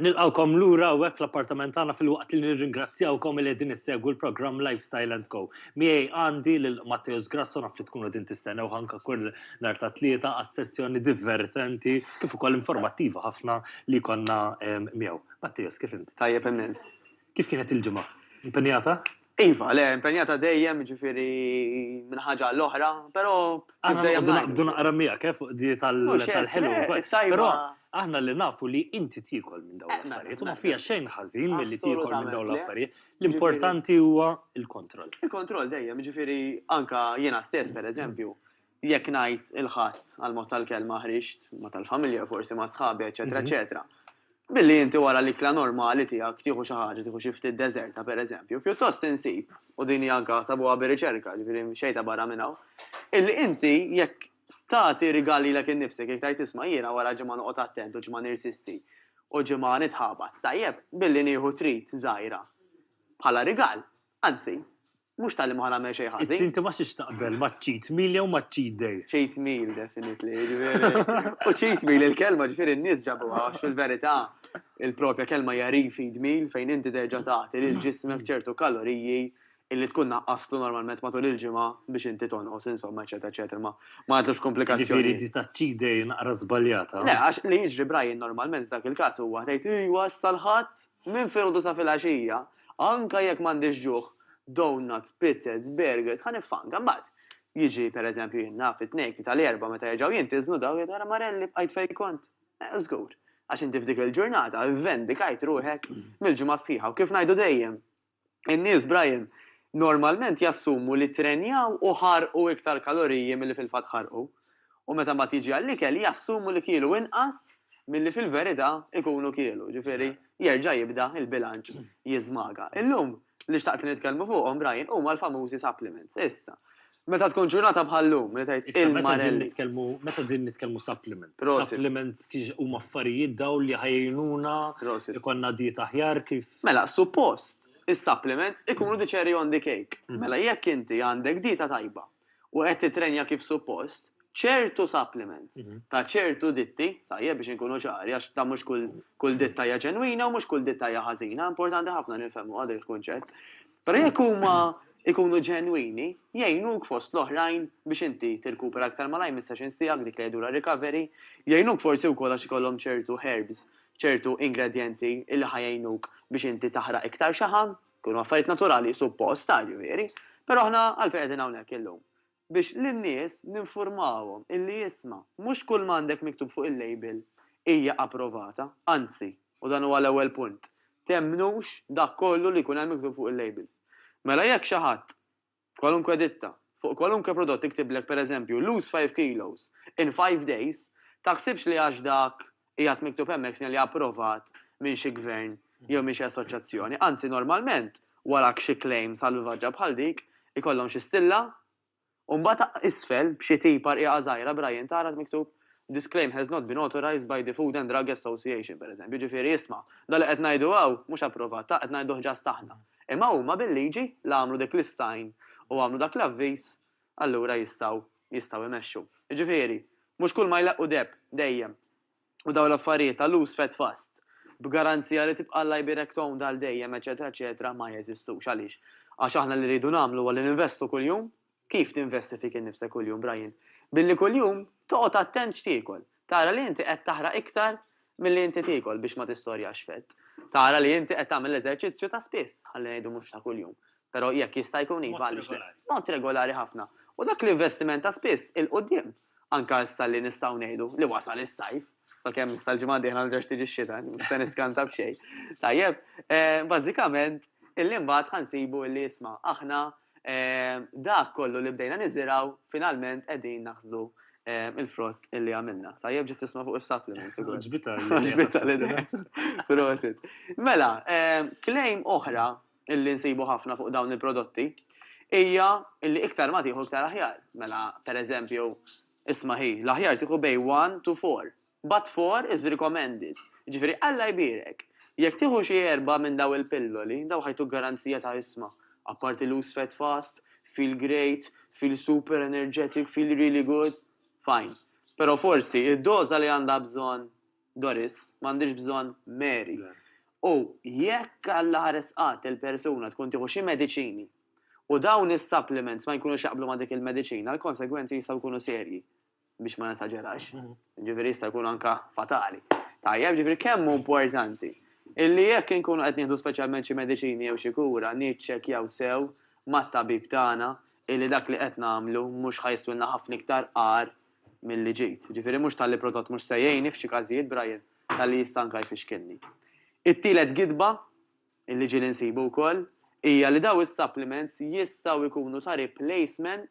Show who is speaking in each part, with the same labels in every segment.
Speaker 1: Nilqgħukom lura hawnhekk fl-appartament tagħna filwaqt li nirringrazzjawkom li qegħdin issegwu l-programm Lifestyle and Co. Miegħi għandi lil Matteus Grasso naf li tkunu qegħdin tistennewh anke kull nhar ta' Tlieta għas-sessjoni divertenti kif ukoll informattiva ħafna li jkollna miegħu. Matteus, kif int? Tajjeb immens.
Speaker 2: Kif kienet il-ġimgħa?
Speaker 1: Impenjata? Iva, le,
Speaker 2: impenjata dejjem, ġifiri minn ħaġa l-oħra, pero. Għandu
Speaker 1: naqra mija, kif eh, di tal-ħelu. Eh, pero, aħna li nafu li inti tikol minn dawn eh, mela, l-affarijiet, u ma mela, fija mela. xejn ħażin mill-li tikol minn dawn l-affarijiet, l-importanti huwa il-kontroll. Il-kontroll dejjem,
Speaker 2: ġifiri, anka jiena stess, per eżempju, jekk ngħid il-ħadd għal mod tal-kelma ħriġt ma tal-familja forsi ma' sħabi, eċetera, mhm. eċetera. Billi inti wara l-ikla normali tiegħek tieħu xi ħaġa, tieħu xi ftit deżerta pereżempju, pjuttost insib, u din hija anke sabuha bir-riċerka, ġifieri xejta barra minn hawn, illi inti jekk tagħti rigali lek innifsek, jekk tgħid isma' jiena wara ġimgħa noqgħod attent u ġimgħa nirsisti u ġimgħa nitħabat. Tajjeb, billi nieħu trit żgħira bħala rigal, anzi, Mhux talli ma ħanagħmel xejn ħażin. Inti ma xiex taqbel ma'
Speaker 1: cheat meal jew ma' cheat day. Cheat meal definitely,
Speaker 2: ġifieri. U cheat meal il-kelma ġifieri n-nies ġabuha għax fil-verità il-propja kelma hija refeed meal fejn inti terġa' tagħti lil ġismek ċertu kaloriji illi tkun naqqastlu normalment matul il-ġimgħa biex inti tonqos insomma eċetera eċetera ma nagħtlux komplikazzjonijiet. Ġifieri di ta' cheat
Speaker 1: day naqra żbaljata. Le għax li jiġri
Speaker 2: Brian normalment f'dak il-każ huwa tgħid ejwa issa l-Ħadd Minn filgħodu sa filgħaxija, anke jekk m'għandix ġuħ, donuts, pizzas, burgers, ħa niffanka. Imbagħad, jiġi, per eżempju, jien naf, it-Tnejn, Tlieta l-Erbgħa meta jerġgħu jintiżnu dawn jgħidu ara Marelli bqajt fejn kont. Eh, żgur. Għax inti f'dik il-ġurnata vvendikajt ruħek mill-ġimgħa sħiħa u kif ngħidu dejjem, In-nies, Brian, normalment jassumu li ttrenjaw u ħarqu iktar kaloriji milli fil-fatt ħarqu. U meta mbagħad jiġi għall-ikel jassumu li kielu inqas milli fil-verità jkunu kielu. Jiġifieri, jerġa' jibda l-bilanċ jiżmaga. Illum, li xtaqt li nitkellmu fuqhom, Brian, huma l-famużi supplements. Issa, Meta tkun ġurnata bħal-lum, li tajt il-marelli. nitkellmu, meta din
Speaker 1: nitkellmu supplement. Supplement huma affarijiet daw li ħajjnuna, ikonna dieta ħjar kif. Mela, suppost,
Speaker 2: is-supplements ikunu mm. diċeri on the cake. Mm. Mela jekk inti għandek dieta tajba u qed titrenja kif suppost, ċertu supplements mm-hmm. ta' ċertu ditti, tajjeb biex inkunu ċari, għax ta' mhux kull ditta hija ġenwina u mhux kull ditta hija ħażina, importanti ħafna nifhmu għadek il-kunċett. Però jekk huma jkunu ġenwini, jgħinuk fost l-oħrajn biex inti tirkupera aktar malajr mis-sessions tiegħek, dik li jgħidulha recovery, jgħinuk forsi wkoll għax ikollhom ċertu herbs, ċertu ingredjenti li ħa jgħinuk biex inti taħraq iktar xaħam, jkunu affarijiet naturali, suppost, għar, jiġifieri, però aħna għalfejn qegħdin hawnhekk illum? biex lin-nies ninfurmawhom illi isma', mhux kull ma għandek miktub fuq il-label hija approvata, anzi, u dan huwa l-ewwel punt, temmnux dak kollu li jkun hemm miktub fuq il-labels. Mela jekk xi ħadd, kwalunkwe ditta, fuq kwalunkwe prodott iktiblek pereżempju lose five kilos in five days, taħsibx li għax dak Qiegħed miktub hemmhekk sinjali approvat minn xi gvern jew minn xi assoċjazzjoni. Anzi, normalment, wara xi klejm salvvaġġa bħal dik, ikollhom xi stilla, u mbagħad isfel, b'xi tipa rqiqa żgħira b'rajjin ta' arat miktub, This claim has not been authorized by the Food and Drug Association, pereżempju. Jiġifieri, isma', dan li qed ngħidu hawn mhux approvat, ta, qed ngħiduh ġast aħna. Imma huma bil-liġi la għamlu dik l-istgħin u għamlu dak l-avviż allura jistgħu jistgħu jmexxu. Jiġifieri, mhux kulma jleqqu deheb, dejjem. U dawn l-affarijiet ta' lus fed fast, b'garanzija li tibqa' Alla jbierek tgħum għal dejjem, eċċetera eċċetera, ma jeżistux. Għaliex? Għax aħna li rridu nagħmlu huwa li ninvestu kuljum. Kif tinvesti fik innifsek kuljum, Brian? Billi kuljum toqgħod attent x'tiekol. Tara li inti qed taħraq iktar milli inti tiekol biex ma tistorjax fett. Tara li inti qed tagħmel eżerċizzju ta' spiss, ħalli ngħidu mhux ta' kuljum, però jekk jista' jkun iva għaliex le. Mod regolari ħafna. U dak l-investiment ta' spiss 'il quddiem. Anke issa li nistgħu ngħidu li wasal is-sajf, sakemm issa l-ġimgħa d-dieħla ma terġax tiġi x-xita, mhux se niskanta b'xejn. Tajjeb, bażikament, illi mbagħad ħa nsibu illi isma' aħna dak kollu li bdejna niżirgħu finalment qegħdin naħsdu il-frott illi għamilna. Tajjeb ġiet tisma' fuq is-supplement. Ġbita l-idea. Prosit. Mela, claim oħra illi nsibu ħafna fuq dawn il-prodotti hija illi iktar ma tieħu iktar aħjar. Mela, pereżempju, isma' hi, l-aħjar tieħu bej 1 to 4. But for is recommended, jiġifieri Alla jbierek. Jekk tieħu xi erbgħa minn dawn il-pilloli, dawn ħajtuk garanzija ta' isma'. Apparti loose fat fast, feel great, feel super energetic, feel really good. Fine. Però forsi id-doża li għandha bżonn Doris, m'għandhiex bżonn Mary. U jekk Alla ħares qatt il-persuna tkun tieħu xi mediċini u dawn is-supplements ma jkunux jaqblu ma' dik il-mediċina, l-konsegwenzi jistgħu jkunu serji. biex ma nesaġerax, ġifieri jista' jkun anka fatali. Tajjeb, ġifieri kemm hu importanti illi jekk inkunu qed nieħdu speċjalment xi mediċini jew xi kura niċċekkjaw sew mat-tabib tagħna illi dak li qed nagħmlu mhux ħa jiswilna ħafna iktar agħar milli ġid. Ġifieri mhux talli prodott mhux se jgħinni f'xi każijiet Brian, talli jista' anka jfixkilni. It-tielet gidba illi ġieli nsibu wkoll hija li dawn is-supplements jistgħu jkunu ta' replacement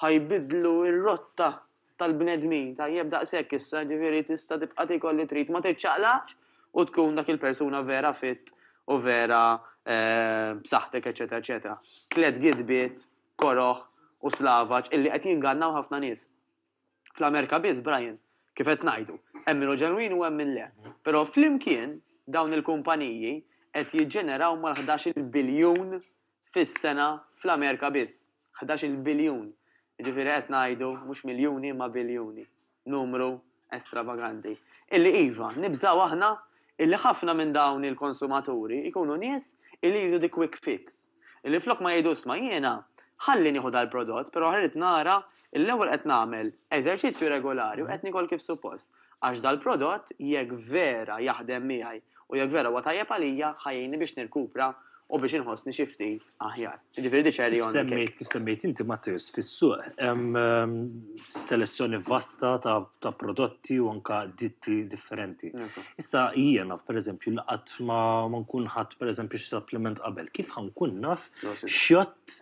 Speaker 2: Ħa jbiddlu r-rotta tal-bnedmin. Tajjeb daqshekk issa, jiġifieri tista' tibqa' tiekol li trid, ma tiċċaqlaqx u tkun dak il-persuna vera fit u vera b'saħħtek eċċetera eċċetera. Tliet gidbiet koroh u slavaġ illi qed jingannaw ħafna nies. Fl-Amerika biss, Brian, kif qed ngħidu, hemm min hu ġenwin u hemm min le. Però flimkien dawn il-kumpaniji qed jiġġeneraw mal-ħdax-il biljun fis-sena fl-Amerika biss. Ħdax-il biljun. Jiġifieri qed ngħidu mhux miljuni imma biljuni. Numru estravaganti. Illi iva, nibżgħu aħna illi ħafna minn dawn il-konsumaturi jkunu nies illi jridu the quick fix. Illi flok ma jgħidu isma' jiena ħalli nieħu dal-prodott però rrid nara L-ewwel qed nagħmel eżerċizzju regolari u qed niekol kif suppost, għax dal-prodott jekk vera jaħdem miegħi u jekk vera huwa tajjeb għalija ħa jgħinni biex nirkupra u biex inħossni xi ftit aħjar. Jiġifieri di cherry on the cake. Kif semmejt inti Matteus,
Speaker 1: fis-suq hemm selezzjoni vasta ta' prodotti u anke ditti differenti. Issa jiena pereżempju li qatt ma nkun ħadt pereżempju xi supplement qabel, kif ħa nkun naf x'jott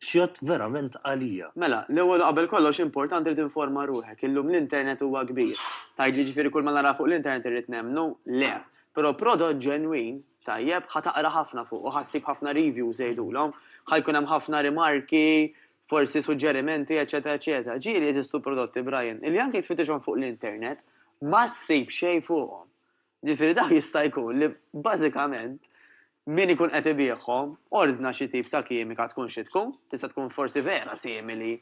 Speaker 1: X'jgħodd verament għalija. Mela, l-ewwel u qabel
Speaker 2: kollox importanti li tinforma ruħek. Illum l-internet huwa kbir. Tgħidli ġifieri kull ma nara fuq l-internet irrid nemmnu? Le. Però prodott ġenwin, tajjeb, ħa taqra ħafna fuqu, ħa ssib ħafna reviews jgħidulhom, ħa jkun hemm ħafna rimarki, forsi suġġerimenti, eċċetera eċċetera. Ġieli jeżistu prodotti, Brian, illi anki jekk tfittixhom fuq l-internet, ma ssib xejn fuqhom. Jiġifieri dak jista' jkun li bażikament min ikun qed ibiegħhom ordna xi tip ta' kimika tkun xi tkun, tista' tkun forsi vera simili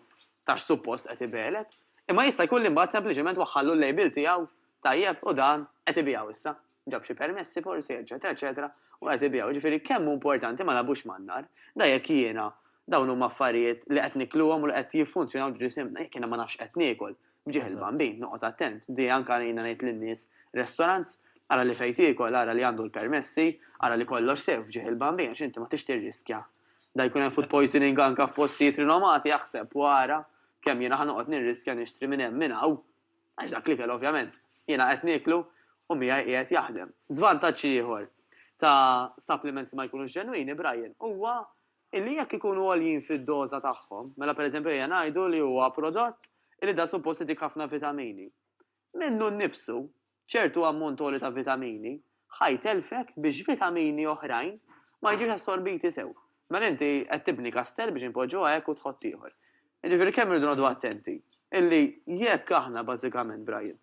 Speaker 2: ta' x'suppost qed ibigħlek, imma jista' jkun li mbagħad sempliċement waħħallu l-label tiegħu, tajjeb, u dan qed ibiegħu issa. Ġab xi permessi forsi, eċċetera, eċċetera, u qed ibiegħu. Jiġifieri kemm hu importanti ma nagħbux man-nar. Da jekk jiena dawn huma affarijiet li qed nikluhom u li qed jiffunzjonaw ġisimna, jekk jiena ma nafx qed niekol, B'ġieħ il-Bambin, noqgħod attent, di anke għalina ngħid lin-nies, restaurants, ara li fejn tiekol, ara li għandu l-permessi, ara li kollox sew f'ġieħ il-Bambin għax inti ma tridx tirriskja. Da jkun hemm food poisoning anke f'postijiet rinomati aħseb u ara kemm jiena ħa noqgħod nirriskja nixtri minn hemm minn hawn għax dak l-ikel ovvjament jiena qed nieklu u miegħi qiegħed jaħdem. Żvantaġġ ieħor ta' supplements li ma jkunux ġenwini, Brian, huwa Illi jekk ikunu għoljin fid-doża tagħhom, mela pereżempju ejja ngħidu li huwa prodott illi dan suppost itik ħafna vitamini. Minnu nnifsu, ċertu ammont għoli ta' vitamini ħa jtellfek biex vitamini oħrajn ma jiġux assorbiti sew. Mela inti qed tibni kastell biex inpoġġuha hekk u tħott ieħor. Jiġifieri kemm irridu noqogħdu attenti illi jekk aħna bażikament, Brian,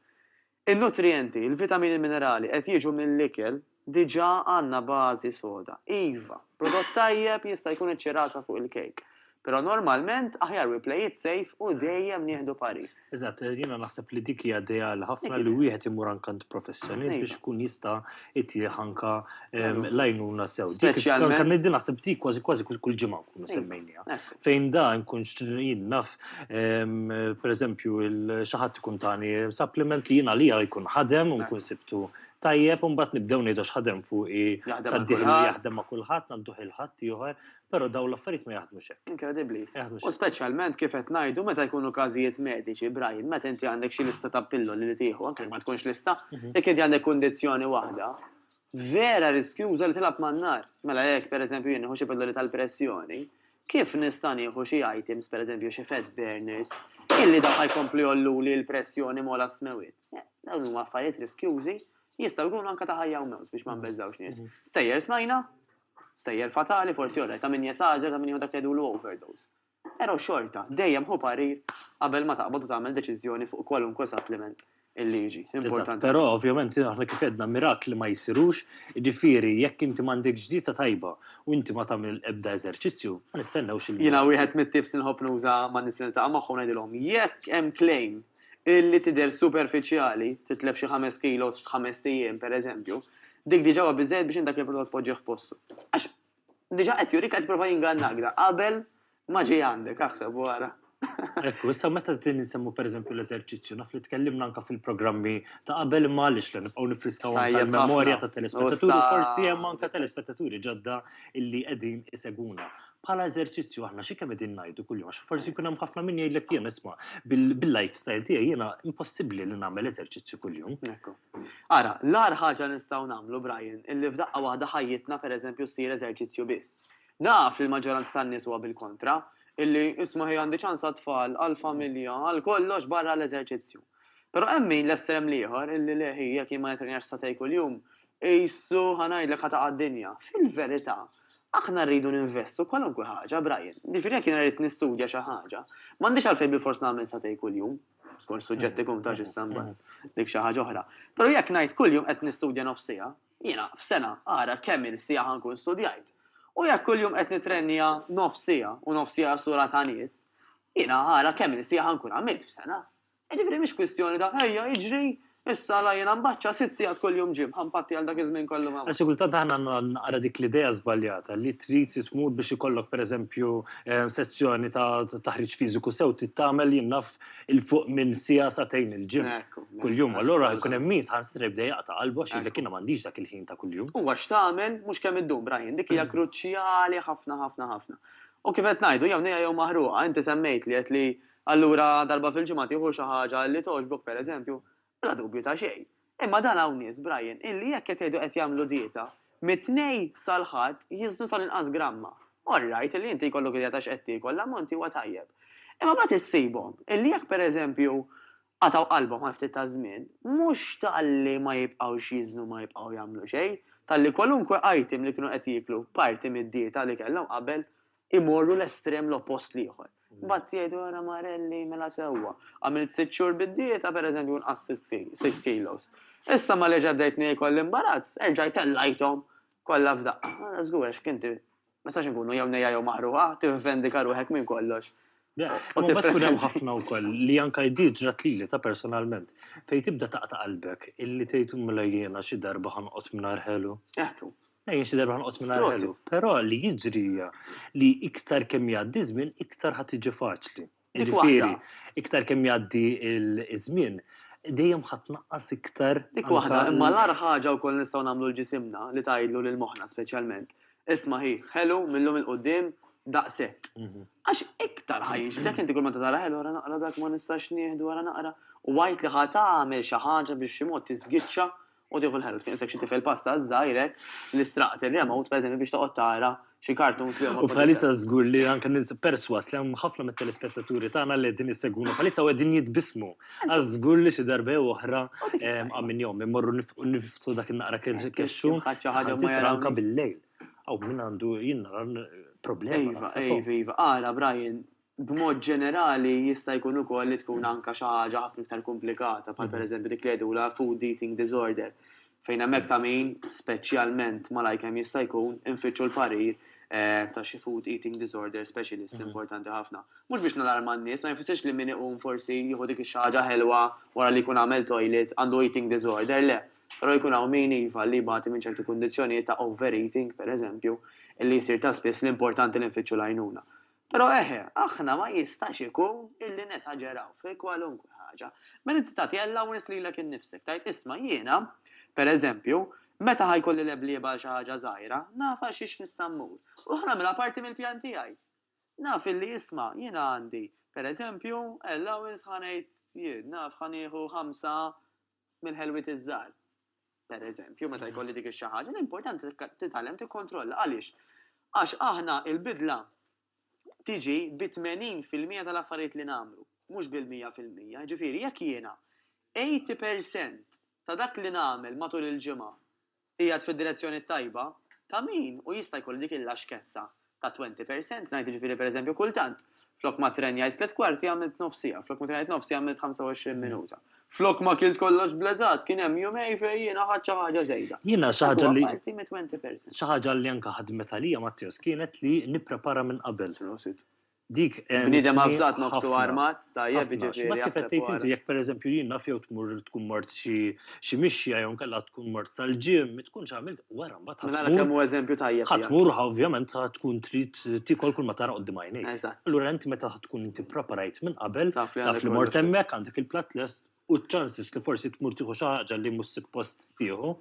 Speaker 2: In-nutrijenti, il-vitamini minerali qed jiġu mill-ikel, diġà għandna bażi soda. Iva, prodott tajjeb jista' jkun iċ-ċirasa fuq il-kejk. Però normalment aħjar we play it safe u dejjem nieħdu parir. Eżatt, jiena naħseb
Speaker 1: li dik hija ideali ħafna li wieħed imur anke għand professjonist biex ikun jista' Ittieħ anka l-għajnuna sew. Speċjalment. Kan niddi naħseb ti kważi kważi kull ġimgħa nkunu semmejnija. Fejn da nkun jien naf pereżempju xi ħadd ikun tani supplement li jien għalija jkun ħadem u nkun sibtu tajjeb u mbagħad nibdew ngħidu x'ħadem fuq tad-dieħ li jaħdem ma' kulħadd għandu ħil-ħadd ieħor Però dawn l-affarijiet ma jaħdmux hekk. Inkredibbli. U
Speaker 2: speċjalment kif qed ngħidu meta jkunu każijiet mediċi, Brian, meta inti għandek xi lista ta' pilloli li tieħu, anke ma tkunx lista, mhm. jekk inti għandek kundizzjoni waħda, vera riskjuża li tilab man-nar. Mela jekk pereżempju jien xi pilloli tal-pressjoni, kif nista' nieħu xi items, pereżempju xi fat burners, illi daħħa jkompli jollu li l-pressjoni mola smewit. Dawn huma affarijiet riskjużi jistgħu jkunu anke ta' ħajja u mewt biex ma mhm. nbeżżawx nies. Mhm. Stejjer smajna, Stejjer fatali forsi orrajt ta' min jesaġera ta' min jieħu dak li jgħidulu overdose. Pero' xorta, dejjem ħu parir qabel ma taqbad u tagħmel deċiżjoni fuq kwalunkwe suppliment il-liġi. Eżatt, pero' ovvjament aħna
Speaker 1: kif għedna mirakli ma jsirux, jiġifieri jekk inti m'għandekx dieta tajba u inti ma tagħmel ebda eżerċizzju, ma nistennewx il-mirakli. Jiena wieħed mit-types
Speaker 2: li nħobb nuża man-nies li niltaqa' magħhom ngħidilhom jekk hemm claim li tidher superfiċjali, titlef xi ħames kilos f'ħamest ijiem, per eżempju, dik diġà huwa biżżejjed biex int dak il-prodott tpoġġih f'postu. Għax diġà qed jurik qed jipprova jingannak da qabel ma ġie għandek, aħseb u ara. Ekku, issa
Speaker 1: meta din insemmu per eżempju l-eżerċizzju, naf li tkellimna anke fil-programmi ta' qabel imma għaliex le nibqgħu nifriskawhom Tajjeb ħafna. tal-memorja tat-telespettaturi, Ussa- forsi hemm anke telespettaturi ġodda illi qegħdin isegwuna. bħala eżerċizzju aħna xi kemm qegħdin ngħidu kuljum għax forsi jkun hemm ħafna min jgħidlek jien isma' bil-lifestyle tiegħi jiena impossibbli li nagħmel eżerċizzju kuljum.
Speaker 2: Ara, l-agħar ħaġa nistgħu nagħmlu Brian illi f'daqqa waħda ħajjitna pereżempju ssir eżerċizzju biss. Naf li l-maġġoranza tan-nies huwa bil-kontra, illi isma' ħi għandi ċans għat-tfal, għall-familja, għal kollox barra l-eżerċizzju. Però hemm min l-estrem l-ieħor illi leħi jekk jien ma nitrenjax satej kuljum, Qisu, ħa ngħidlek, ħa taqa' d-dinja. Fil-verità, aħna rridu ninvestu kwalunkwe ħaġa, Brian. Jiġifieri jekk jiena rrid nistudja xi ħaġa, m'għandix għalfejn bilfors nagħmel sagħtejn kuljum, skont suġġett ikun ta' x'issa mbagħad, dik xi ħaġa oħra. Però jekk ngħid kuljum qed nistudja nofs siegħa, jiena f'sena ara kemm-il siegħa ħa nkun studjajt. U jekk kuljum qed nitrennja nofs siegħa, u nofs siegħa sura ta' nies, jiena ara kemm-il siegħa ħa nkun għamilt f'sena. Jiġifieri mhix kwistjoni ta' ejja iġri issa għala jiena mbaċċa sitt sigħat kuljum gym, ħa npatti għal dak iż-żmien kollu ma. Għax xi kultant aħna għandna
Speaker 1: naqra dik l-idea żbaljata li trid tmur biex ikollok pereżempju sezzjoni ta' taħriġ fiżiku sew trid tagħmel jien naf 'il fuq minn siegħa sagħtejn il-gym kuljum. Allura jkun hemm min saħansitra jibda jaqta' qalbu għax jgħidlek jiena m'għandix dak il-ħin ta' kuljum. Huwa x'tagħmel mhux
Speaker 2: kemm iddum Brian, dik hija kruċjali ħafna ħafna ħafna. U kif qed ngħidu jew nejja jew maħruqa, inti semmejtli għedt li Allura darba fil-ġimgħa tieħu xi ħaġa li togħġbok pereżempju, bla dubju ta' xejn. Imma dan hawn nies, Brian, illi jekk qed jgħidu qed jagħmlu dieta, mit-Tnejn sal-Ħadd jiżnu tal-inqas gramma. All right li inti jkollok idea ta' x'qed tiekol, l-ammont huwa tajjeb. Imma mbagħad issibhom illi jekk pereżempju qatgħu qalbhom għal ftit ta' żmien, mhux talli ma jibqgħux jiżnu ma jibqgħu jagħmlu xejn, talli kwalunkwe item li kienu qed jieklu, parti mid-dieta li kellhom qabel, imorru l-estrem l-oppost l-ieħor. Imbagħad jgħidu ara Marelli mela sewwa. Għamilt sitt xhur bid-dieta pereżempju u nqass sitt kilos. Issa ma reġa' bdejt niekol l-imbarazz, erġajt tellajthom kollha f'daqqa. Ara żgur għax kien ti ma nistax inkunu jew nejja jew maħruqa, tivvendika ruħek minn kollox. U mbagħad
Speaker 1: tkun hemm ħafna wkoll li anke di ġrat lili ta' personalment, fejn tibda taqta' qalbek illi tgħid mela jiena xi darba ħa noqgħod mingħajr ħelu. Hekk hu. Ejn
Speaker 2: xi darba nqos
Speaker 1: minn ħelu, però li jiġri hija li iktar kemm jgħaddi żmien iktar ħadd tiġi faċli. Jiġifieri, iktar kemm jgħaddi ż-żmien, dejjem ħadd tnaqqas iktar. Dik waħda, imma l-agħar
Speaker 2: ħaġa wkoll nistgħu nagħmlu l-ġisimna li tgħidlu lil moħħna speċjalment, isma' hi, ħelu mil-lum 'il quddiem daqshekk. Għax iktar ħa jixbdek inti kull meta tara ħelu ara naqra dak ma nistax nieħdu ara naqra u għid li ħa tagħmel xi ħaġa biex b'xi mod tiżgiċċa U tieħu l-ħelb, kien xi tifel pasta żgħirek li straqt ir-remote pereżempju biex toqgħod tara xi cartoons li huma. U bħalissa żgur li anke
Speaker 1: nins perswas li hemm ħafna mit-telespettaturi tagħna li qegħdin jissegwuna bħalissa u qegħdin jitbismu. Għaż żgur li xi darba jew oħra minn jom immorru niftu dak in-naqra kexxu anke bil-lejl. Aw min għandu jien nara problema. Iva, iva, iva,
Speaker 2: ara Brian, B'mod ġenerali, jista' jkun ukoll li tkun anke xi ħaġa ħafna iktar kumplikata, bħal pereżempju dik li jgħidulha food eating disorder, fejn hemmhekk ta' min, speċjalment malajr kemm jista' jkun, infittxu l-parir ta' xi food eating disorder specialist importanti ħafna. Mhux biex nalarma n-nies, ma jfissirx li min iqum forsi jieħu dik ix-xi ħaġa ħelwa wara li jkun għamel toilet għandu eating disorder, le. Però jkun hawn min, iva, li jbati minn ċerti kundizzjonijiet ta' overeating, pereżempju, li jsir ta' spiss li importanti li nfittxu l-għajnuna. Però eħe, aħna ma jistax ikun illi nesaġeraw fi kwalunkwe ħaġa. Meta inti tagħti allowance lilek innifsek, tgħid, isma' jiena, per eżempju, meta ħa jkolli leblieba għal xi ħaġa żgħira, naf għal xiex nista' mmur, u ħa nagħmilha parti mill-pjan tiegħi. Naf illi, isma', jiena għandi, per eżempju, allowance ħa ngħid jien, naf ħa nieħu ħamsa mill-ħelwiet iż-żgħar. Per eżempju, meta mhm. jkolli dik ix ħaġa, l-importanti titgħallem tikkontrolla. Għaliex? Għax aħna il-bidla tiġi bi 80% tal-affarijiet li nagħmlu, mhux bil-100%. Ġifieri jekk jiena 80% ta' dak li nagħmel matul il-ġimgħa Qiegħed fid-direzzjoni t-tajba, ta' min hu jista' jkollu dik il-laxkezza ta' twenty percent, ngħid jiġifieri pereżempju kultant flok ma tren jgħid tliet kwarti għamilt nofs siegħa, flok ma tren jgħid nofs siegħa għamilt ħamsa u għoxrin minuta. Flok ma kilt kollox bleżat, kien hemm jumej fejn jiena ħadt xi ħaġa żejda. Jiena xi ħaġa li. Dak huwa
Speaker 1: parti mit twenty percent.
Speaker 2: Xi ħaġa li anke
Speaker 1: ħadmet għalija Matteos kienet li nipprepara minn qabel. Prosit. Dik għentni ħafna. Bniedem avżat
Speaker 2: nofsu armat, tajjeb, jiġifieri. Ħafna. X'ma kif qed tgħid inti jekk
Speaker 1: pereżempju jien naf jew tmur tkun mort xi mixja jew inkella tkun mort sal-gym, ma tkunx għamilt wara mbagħad ħa tmur. Mela kemm hu eżempju
Speaker 2: tajjeb. Ħa tmur ħa ovvjament
Speaker 1: ħa tkun trid tiekol kull ma tara quddiem għajnejk. Eżatt. Allura inti meta
Speaker 2: tkun
Speaker 1: inti ppreparajt minn qabel, taf li mort hemmhekk, għandek
Speaker 2: il-platt
Speaker 1: lest, u ċ-ċansis li forsi tmur tieħu xi ħaġa li mhux sippost tieħu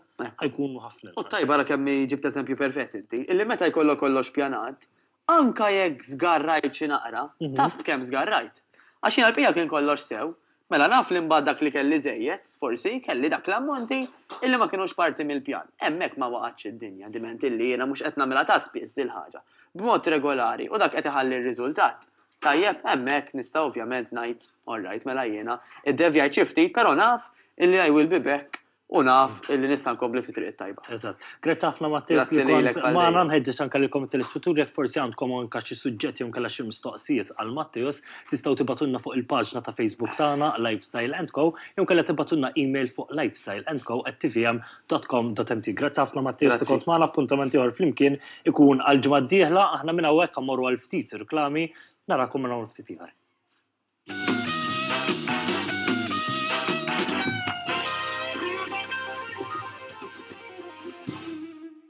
Speaker 1: jkunu ħafna. U t-tajba ara kemm
Speaker 2: ġibt eżempju perfett inti, illi meta jkollok kollox pjanat, anke jekk żgarrajt xi naqra, taf b'kemm żgarrajt. Għax jien għall-bqija kien kollox sew, mela naf li mbagħad dak li kelli żejjed, forsi, kelli dak l-ammonti illi ma kinux parti mill-pjan. Hemmhekk ma waqgħetx id-dinja, diment illi jiena mhux qed nagħmilha ta' spiss dil-ħaġa, b'mod regolari u dak qed iħalli r-riżultat. Tajjeb, hemmhekk nista' ovvjament ngħid, all right, mela jiena iddevjajt xi ftit, però naf illi I will be back u naf illi nista' nkompli fit-triq it-tajba. Eżatt. Grazzi ħafna
Speaker 1: Mattias li kont magħna, nħeġġeġ anke lilkom it-telespettaturi jekk forsi għandkom anke xi suġġett jew inkella xi mistoqsijiet għal Mattias, tistgħu tibgħatulna fuq il-paġna ta' Facebook tagħna, Lifestyle and Co, jew inkella tibgħatulna email fuq lifestyleandco@tvm. www.ecom.mt. Grazzi ħafna Mattias li kont magħna appuntamenti ieħor flimkien ikun għal ġimgħa d-dieħla aħna minn hawnhekk għamorru għal ftit reklami narakom minn hawn ftit ieħor.